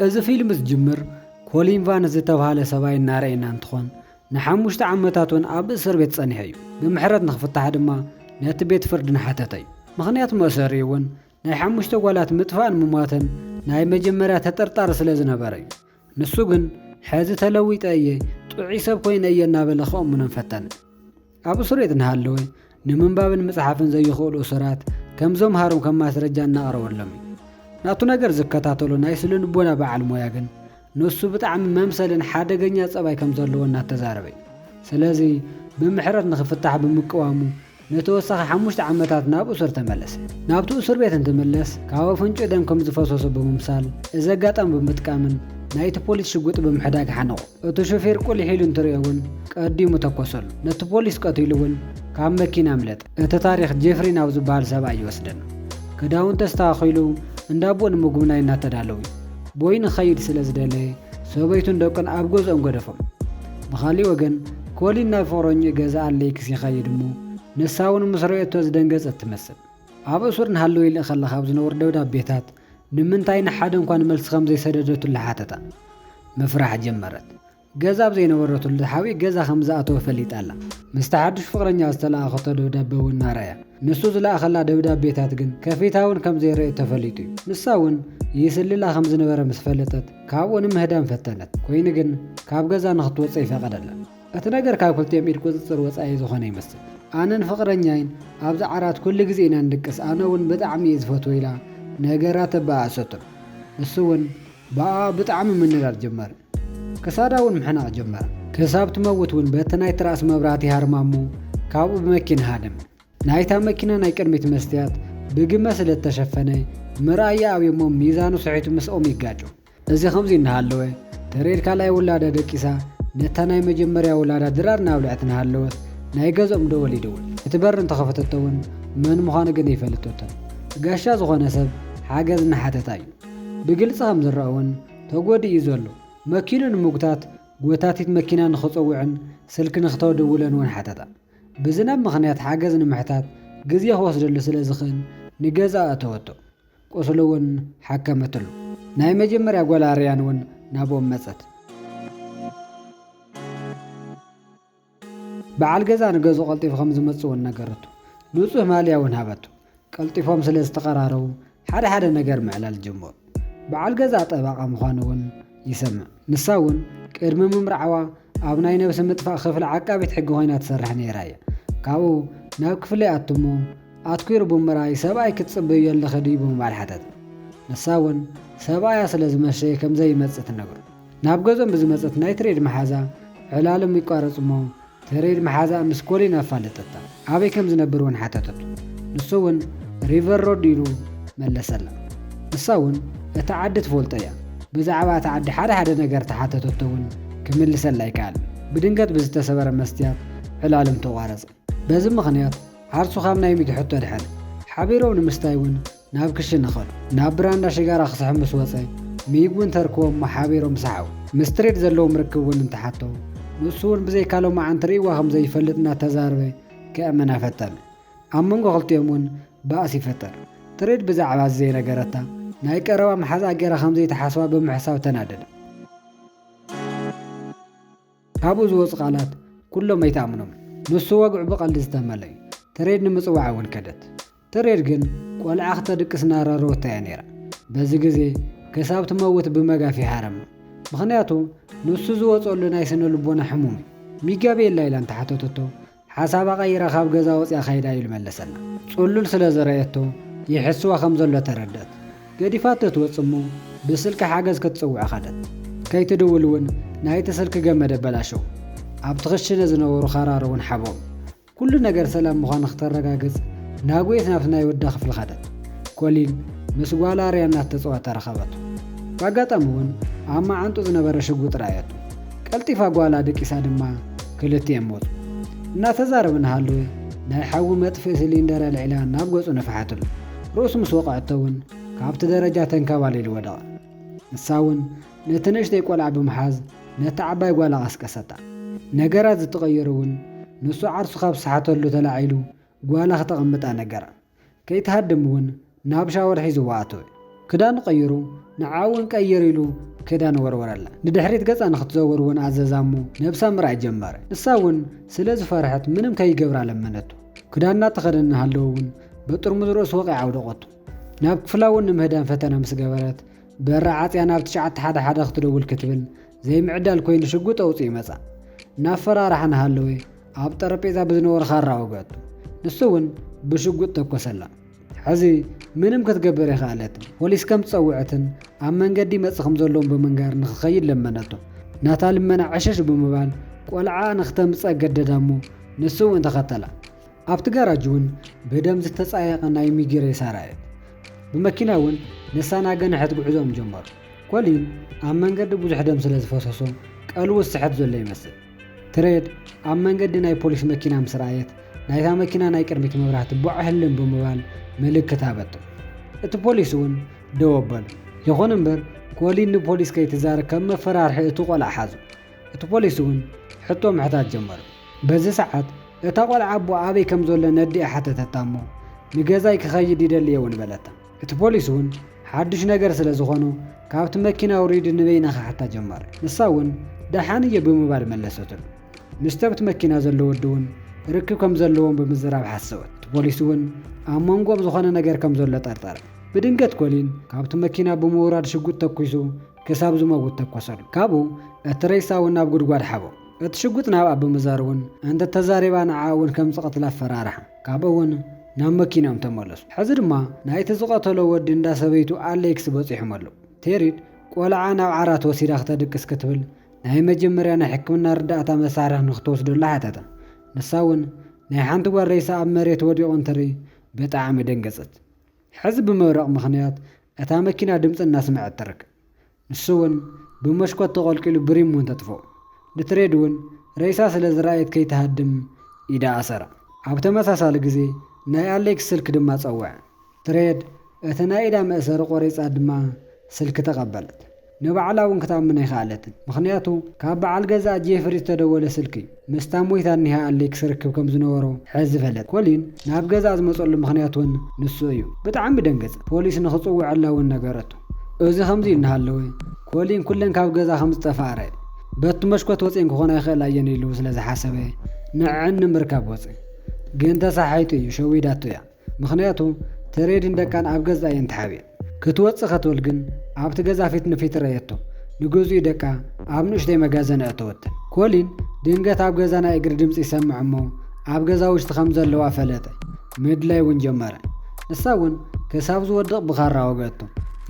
እዚ ፊልም ዝጅምር ኮሊን ቫን ዝተብሃለ ሰብኣይ እናረኣየና እንትኾን ንሓሙሽተ ዓመታት እውን ኣብ እስር ቤት ፀኒሑ እዩ። ብምሕረት ንክፍታሕ ድማ ነቲ ቤት ፍርድ እናሓተተ እዩ። ምኽንያት መእሰሪኡ እውን ናይ ሓሙሽተ ጓላት ምጥፋእን ምሟትን ናይ መጀመርያ ተጠርጣሪ ስለ ዝነበረ እዩ። ንሱ ግን ሕዚ ተለዊጠ እየ፣ ጥዑይ ሰብ ኮይነ እየ እናበለ ከእምኖም ፈተነ። ኣብ እሱርቤት እናሃለወ ንምንባብን ምጽሓፍን ዘይኽእሉ እሱራት ከም ዘምሃሮም ከም ማስረጃ እናቕረበሎም እዩ። ናቱ ነገር ዝከታተሎ ናይ ስነ-ልቦና በዓል ሞያ ግን ንሱ ብጣዕሚ መምሰልን ሓደገኛ ጸባይ ከም ዘለዎ እናተዛረበ እዩ። ስለዚ ብምሕረት ንኽፍታሕ ብምቅዋሙ ንተወሳኺ ሓሙሽተ ዓመታት ናብ እሱር ተመለሰ። ናብቲ እሱርቤት እንትምለስ ካብ ኣፍንጭኡ ደም ከም ዝፈሰሶ ብምምሳል እዚ ኣጋጣሚ ብምጥቃምን ናይቲ ፖሊስ ሽጉጥ ብምሕዳግ ሓነቖ። እቲ ሹፌር ቁሊሕ ኢሉ እንትርእዮ እውን ቀዲሙ ተኮሰሉ። ነቲ ፖሊስ ቀቲሉ እውን ካብ መኪና ኣምለጠ። እቲ ታሪኽ ጄፍሪ ናብ ዝበሃል ሰብኣይ ይወስደና። ክዳውንቲ ኣስተኻኺሉ እንዳ ኣቦኡ ንምጉብናይ እናተዳለው እዩ። ቦይ ንክኸይድ ስለ ዝደለየ ሰበይቱን ደቁን ኣብ ገዝኦም ገደፎም። ብኻሊእ ወገን ኮሊን ናብ ፍቕረኝኡ ገዛ ኣሌክስ ይኸይድ እሞ ንሳ እውን ምስ ረኤቶ ዝደንገጸት ትመስል። ኣብ እሱር ንሃለወይልእ ከለኻ ኣብ ዝነበሩ ደብዳቤታት ንምንታይ ንሓደ እኳ ንመልሲ ከም ዘይሰደደትሉ ሓተታ። ምፍራሕ ጀመረት። ገዛ ኣብ ዘይነበረትሉ ተሓቢእ ገዛ ከም ዝኣተወ ፈሊጣ ኣላ። ምስታ ሓድሽ ፍቕረኛኣ ዝተለኣኸቶ ደብዳበ እውን እናረኣያ። ንሱ ዝለኣኸላ ደብዳቤታት ግን ከፊታውን ከም ዘይረእየት ተፈሊጡ እዩ። ንሳ እውን ይስልላ ከም ዝነበረ ምስ ፈለጠት ካብኡ ንምህዳም ፈተነት። ኮይኑ ግን ካብ ገዛ ንኽትወጽእ ኣይፈቐደላን። እቲ ነገር ካብ ክልቲኦም ኢድ ቁጽጽር ወጻኢ ዝኾነ ይመስል። ኣነን ፍቕረኛይን ኣብዚ ዓራት ኩሉ ግዜ ኢና ንድቅስ፣ ኣነ እውን ብጣዕሚ እየ ዝፈትዎ ኢላ ነገራት ኣበኣእሰቶ። ንሱ እውን ብኣኣ ብጣዕሚ ምንዳድ ጀመረ። ክሳዳ እውን ምሕናቕ ጀመረ። ክሳብ ትመውት እውን በቲ ናይ ትራስ መብራህቲ ሃርማ እሞ ካብኡ ብመኪና ሃደመ። ናይታ መኪና ናይ ቅድሚት መስትያት ብግመ ስለ እተሸፈነ ምርኣያ ኣብዮሞ ሚዛኑ ስሒቱ ምስኦም ይጋጮ። እዚ ከምዚ እናሃለወ፣ ተሬድ ካልኣይ ውላዳ ደቂሳ ነታ ናይ መጀመርያ ውላዳ ድራር እናብልዐት እናሃለወት ናይ ገዝኦም ደወል ይድውል። እቲ በሪ እንተኸፈተቶ እውን መን ምዃኑ ግን ኣይፈለጠቶን። ጋሻ ዝኾነ ሰብ ሓገዝ እናሓተታ እዩ። ብግልፂ ከምዝረኣ እውን ተጎዲኡ እዩ ዘሎ። መኪኑ ንምጉታት ጎታቲት መኪና ንኽፀውዕን ስልኪ ንኽተደውለን እውን ሓተታ። ብዝናብ ምኽንያት ሓገዝ ንምሕታት ግዜ ክወስደሉ ስለዝኽእል ንገዝኣ ኣእተወቶ። ቁስሉ'ውን ሓከመትሉ። ናይ መጀመርያ ጓል ኣርያን'ውን ናብኦም መጸት። በዓል ገዛ ንገዝኡ ቀልጢፉ ከም ዝመጽእ'ውን ነገረቶ። ንጹህ ማልያ'ውን ሃበቶ። ቀልጢፎም ስለ ዝተቐራረቡ ሓደ ሓደ ነገር ምዕላል ጀመሩ። በዓል ገዛ ጠበቓ ምዃኑ'ውን ይሰምዕ። ንሳ እውን ቅድሚ ምምርዓዋ ኣብ ናይ ነብሰ ምጥፋእ ክፍሊ ዓቃቢት ሕጊ ኮይና ትሰርሕ ነይራ እያ። ካብኡ ናብ ክፍለይ ኣቱ እሞ ኣትኲሩ ብምርኣይ ሰብኣይ ክትጽበይዮ ኣለኺ ድዩ ብምባል ሓተተ። ንሳ እውን ሰብኣያ ስለ ዝመሸየ ከም ዘይመጽእ ትነግሮ። ናብ ገዝኦም ብዝመጸት ናይ ትሬድ መሓዛ ዕላሎም ይቋረጽ እሞ ተሬድ ምሓዛ ምስ ኮሊን ኣፋለጠታ። ኣበይ ከም ዝነብር እውን ሓተተቶ። ንሱ እውን ሪቨር ሮድ ኢሉ መለሰላ። ንሳ እውን እታ ዓዲ ትፈልጦ እያ። ብዛዕባ እታ ዓዲ ሓደ ሓደ ነገር ተሓተተቶ እውን ክምልሰላ ኣይከኣለን። ብድንገት ብዝተሰበረ መስትያት ዕላሎም ተቋረጸ። በዚ ምኽንያት ዓርሱ ካብ ናይ ሚኪ ሕቶ ደሐነ። ሓቢሮም ንምስታይ እውን ናብ ክሽነ ከዱ። ናብ ብራንዳ ሽጋራ ክስሕብ ምስ ወጸ፣ ሚግ ውን ተርክቦ እሞ ሓቢሮም ሰሓቁ። ምስ ትሬድ ዘለዎም ርክብ ውን እንተሓቶ፣ ንሱ ውን ብዘይካ ሎማዓንቲ ርእይዋ ከም ዘይፈልጥ እናተዛረበ ከእመና ፈተነ። ኣብ መንጎ ክልቲኦም ውን ባእሲ ይፈጠር። ትሬድ ብዛዕባ እዚ ዘይነገረታ፣ ናይ ቀረባ መሓዝኣ ጌራ ከም ዘይትሓስባ ብምሕሳብ ተናደደ። ካብኡ ዝወጹ ቃላት ኩሎም ኣይትኣምኖም ንሱ ወግዑ ብቀልዲ ዝተመልኣ እዩ ትሬድ ንምጽዋዕ እውን ከደት ትሬድ ግን ቆልዓ ክተድቅስ እናራረወታ እያ ነይራ በዚ ግዜ ክሳብ ትመውት ብመጋፍ ይሃረማ ምኽንያቱ ንሱ ዝወጸሉ ናይ ስነ ልቦና ሕሙም እዩ ሚጋ ቤላ ኢላ እንተሓተተቶ ሓሳባ ቀይራ ካብ ገዛ ወጺኣ ከይዳ ኢሉ መለሰላ። ጽሉል ስለ ዝረኣየቶ ይሕስዋ ከም ዘሎ ተረድእት። ገዲፋቶ ትወጽእ እሞ ብስልኪ ሓገዝ ክትጽውዕ ከደት። ከይትድውል እውን ናይቲ ስልኪ ገመድ ኣበላሸዉ። ኣብቲ ክሽነ ዝነበሩ ካራር እውን ሓበሩ። ኩሉ ነገር ሰላም ምዃኑ ክተረጋግጽ ናጉየት ናብቲ ናይ ወዳ ክፍሊ ከደት። ኮሊን ምስ ጓላ ኣርያ እናተጸወተ ረኸበቶ። ብኣጋጣሚ እውን ኣብ መዓንጥኡ ዝነበረ ሽጉጥ ረኣየቶ። ቀልጢፋ ጓላ ደቂሳ ድማ ክልቲኤም ሞቱ። እናተዛረቡ እናሃለወ ናይ ሓዊ መጥፍኢ ሲሊንደር ኣልዒላ ናብ ገጹ ነፍሓትሉ። ርእሱ ምስ ወቐዐቶ'ውን ካብቲ ደረጃ ተንከባሊሉ ወደቐ። ንሳ'ውን ነቲ ንእሽተይ ቆልዓ ብምሓዝ ነታ ዓባይ ጓላ ቀስቀሰታ። ነገራት ዝተቐየሩ'ውን ንሱ ዓርሱ ካብ ዝሰሓተሉ ተላዒሉ ጓላ ክተቐምጣ ነገራ። ከይትሃድም ውን ናብ ሻወር ሒዝዋ ኣተወ። ክዳኑ ቀይሩ ንዓ ውን ቀይር ኢሉ ክዳን ወርወረላ። ንድሕሪት ገጻ ንክትዘውር ውን ኣዘዛ እሞ ነብሳ ምርኣይ ጀመረ። ንሳ ውን ስለ ዝፈርሐት ምንም ከይገብራ ለመነቶ። ክዳን እናተኸደነ እናሃለወ ውን በጥርሙዝ ርእሱ ወቒዓ ኣውደቐቶ። ናብ ክፍላ ውን ንምህዳም ፈተነ ምስ ገበረት በራ ዓጽያ ናብ ትሽዓተ ሓደ ሓደ ክትደውል ክትብል ዘይምዕዳል ኮይኑ ሽጉጥ ኣውጺኡ መጻ። እናፈራርሓ እናሃለወ ኣብ ጠረጴዛ ብዝነበሮ ኻራ ወግኣቶ። ንሱ እውን ብሽጉጥ ተኮሰላ። ሕዚ ምንም ክትገብር ኣይኸኣለትን። ፖሊስ ከም ዝጸውዐትን ኣብ መንገዲ ይመጽእ ከም ዘሎን ብምንጋር ንኽኸይድ ለመነቶ። ናታ ልመና ዕሽሽ ብምባል ቆልዓኣ ንኽተምጽእ ኣገደዳ እሞ ንሱ እውን ተኸተላ። ኣብቲ ጋራጅ እውን ብደም ዝተጻየቐ ናይ ሚጊ ሬሳ ረኣየት። ብመኪና እውን ንሳ ናገንሐት ጉዕዞኦም ጀመሩ። ኮሊን ኣብ መንገዲ ብዙሕ ደም ስለ ዝፈሰሶ ቀልቡ ዝስሕት ዘሎ ይመስል። ትሬድ ኣብ መንገዲ ናይ ፖሊስ መኪና ምስ ረኣየት ናይታ መኪና ናይ ቅድሚት መብራህቲ ቦዕ ህልም ብምባል ምልክት ሃበቶ። እቲ ፖሊስ እውን ደው ኣበሎ። ይኹን እምበር ኮሊን ንፖሊስ ከይትዛረብ ከም መፈራርሒ እቲ ቆልዓ ሓዞ። እቲ ፖሊስ እውን ሕቶ ምሕታት ጀመሩ። በዚ ሰዓት እታ ቆልዓ ኣቦኣ ኣበይ ከም ዘሎ ነዲኣ ሓተተታ እሞ ንገዛይ ክኸይድ ይደሊ እየ እውን በለታ። እቲ ፖሊስ ውን ሓዱሽ ነገር ስለ ዝኾኖ ካብቲ መኪና ውሪዲ ንበይና ክሓታ ጀመረ ንሳ ውን ደሓን እየ ብምባል መለሰትሉ ምስቲ ኣብቲ መኪና ዘሎ ወዲ ውን ርክብ ከም ዘለዎም ብምዝራብ ሓሰወት እቲ ፖሊስ ውን ኣብ መንጎኦም ዝኾነ ነገር ከም ዘሎ ጠርጠረ ብድንገት ኮሊን ካብቲ መኪና ብምውራድ ሽጉጥ ተኩሱ ክሳብ ዝመውት ተኮሰሉ ካብኡ እቲ ሬሳ ውን ናብ ጉድጓድ ሓቦ እቲ ሽጉጥ ናብኣ ብምዛር ውን እንተተዛሪባ ንዓኣ ውን ከም ዝቐትላ ኣፈራርሓ። ካብኡ እውን ናብ መኪኖም ተመለሱ። ሕዚ ድማ ናይቲ ዝቐተሎ ወዲ እንዳ ሰበይቱ ኣሌክስ በጺሖም ኣለዉ። ቴሪድ ቆልዓ ናብ ዓራት ወሲዳ ክተድቅስ ክትብል ናይ መጀመርያ ናይ ሕክምና ርዳእታ መሳርሒ ንክትወስደሉ ሓተታ። ንሳ እውን ናይ ሓንቲ ጓል ሬሳ ኣብ መሬት ወዲቑ እንትርኢ ብጣዕሚ ደንገጸት። ሕዚ ብመብረቕ ምኽንያት እታ መኪና ድምጺ እናስመዐት ትርከብ። ንሱ'ውን ብሞሽኮት ተቖልቂሉ ብሪም እውን ተጥፍኦ። ንትሬድ እውን ሬሳ ስለ ዝረኣየት ከይትሃድም ኢዳ ኣሰራ። ኣብ ተመሳሳሊ ግዜ ናይ ኣሌክስ ስልኪ ድማ ጸውዐ። ትሬድ እቲ ናይ ኢዳ መእሰሪ ቆሪጻ ድማ ስልኪ ተቐበለት። ንባዕላ እውን ክትኣምን ኣይከኣለትን፣ ምኽንያቱ ካብ በዓል ገዛኣ ጄፍሪ ዝተደወለ ስልኪ እዩ። ምስታ ሞይታ እኒሃ ኣሌክ ስርክብ ከም ዝነበሮ ሕዚ ፈለጠ። ኮሊን ናብ ገዝኣ ዝመፀሉ ምኽንያት እውን ንሱ እዩ። ብጣዕሚ ደንገፀ። ፖሊስ ንኽፅውዐላ እውን ነገረቶ። እዚ ከምዚ ኢሉ እናሃለወ ኮሊን ኩለን ካብ ገዛ ከም ዝጠፍኣ ረኣ። በቲ መሽኮት ወፂኤን ክኾና ይኽእላ እየን ኢሉ ስለ ዝሓሰበ ንዐዐን ንምርካብ ወፀ። ግን ተሳሓሒቱ እዩ። ሸዊዳቶ እያ። ምኽንያቱ ተሬድን ደቃን ኣብ ገዛ እየን ተሓቢኤን። ክትወጽእ ከትብል ግን ኣብቲ ገዛ ፊት ንፊት ረኣየቶ። ንግዝኡ ደቃ ኣብ ንእሽተይ መጋዘን ኣእተወተን። ኮሊን ድንገት ኣብ ገዛ ናይ እግሪ ድምጺ ይሰምዕ እሞ ኣብ ገዛ ውሽቲ ከም ዘለዋ ፈለጠ። ምድላይ እውን ጀመረ። ንሳ እውን ክሳብ ዝወድቕ ብኻራ ወግኣቶ።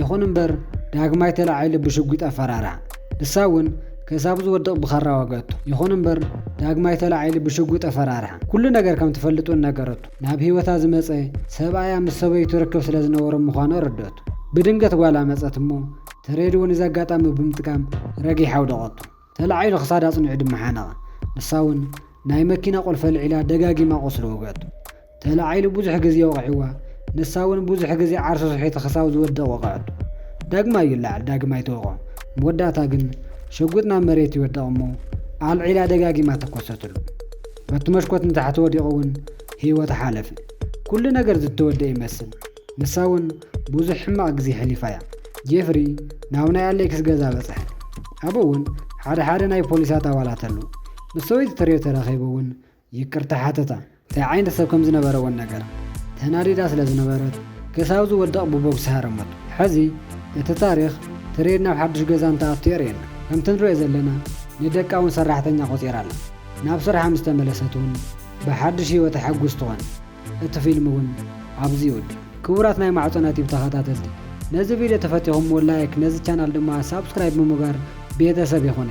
ይኹን እምበር ዳግማይ ተላዒሉ ብሽጒጥ ኣፈራርሃ። ንሳ እውን ክሳብ ዝወድቕ ብኻራ ወግኣቶ። ይኹን እምበር ዳግማይ ተላዒሉ ብሽጒጥ ኣፈራርሃ። ኩሉ ነገር ከም ትፈልጥ እውን ነገረቶ። ናብ ህይወታ ዝመጸ ሰብኣያ ምስ ሰበይቱ ርክብ ስለ ዝነበሮም ምዃኑ ኣረድኣቶ። ብድንገት ጓላ መጸት እሞ እቲ ሬድዎ ነዚ ኣጋጣሚ ብምጥቃም ረጊሓ ኣውደቐቶ። ተላዒሉ ክሳዳ ኣጽኒዑ ድማ ሓነቐ። ንሳ እውን ናይ መኪና ቁልፊ ኣልዒላ ደጋጊማ ቁስሊ ወግኣቶ። ተላዒሉ ብዙሕ ግዜ ወቒዕዋ፣ ንሳ እውን ብዙሕ ግዜ ዓርሱ ስሒቱ ክሳብ ዝወድቕ ወቐዐቶ። ዳግማይ ይለዓል ዳግማይ ትወቕዖ። መወዳእታ ግን ሽጉጥ ናብ መሬት ይወድቕ እሞ ኣልዒላ ደጋጊማ ተኮሰትሉ። በቲ መሽኮት ንታሕቲ ወዲቑ እውን ህይወቱ ሓለፈ። ኩሉ ነገር ዝተወደኣ ይመስል፣ ንሳ እውን ብዙሕ ሕማቕ ግዜ ኣሕሊፋ እያ። ጄፍሪ ናብ ናይ ኣሌክስ ገዛ በጽሐ፣ ኣብኡ እውን ሓደ ሓደ ናይ ፖሊሳት ኣባላት ኣለዉ። ምስ ሰበይቱ ተሪዮ ተራኺቡ እውን ይቅርታ ሓተታ። እንታይ ዓይነት ሰብ ከም ዝነበረ እውን ነገራ። ተናዲዳ ስለ ዝነበረት ገስ ኣብ ዝወድቕ ብቦግሲ ሃረመቶ። ሕዚ እቲ ታሪኽ ተሪዮ ናብ ሓድሽ ገዛ እንትኣቱ የርእየና። ከምቲ ንርእዮ ዘለና ንደቃ እውን ሰራሕተኛ ቆጺራ ኣላ። ናብ ስርሓ ምስ ተመለሰት ውን ብሓድሽ ህይወት ኣሐጉስ ትኾን። እቲ ፊልም ውን ኣብዚ ይውድእ። ክቡራት ናይ ማዕጾና ቲቭ ተኸታተልቲ ነዚ ቪድዮ ተፈቲኹምዎ ላይክ ነዚ ቻናል ድማ ሳብስክራይብ ብምግባር ቤተሰብ ይኹን።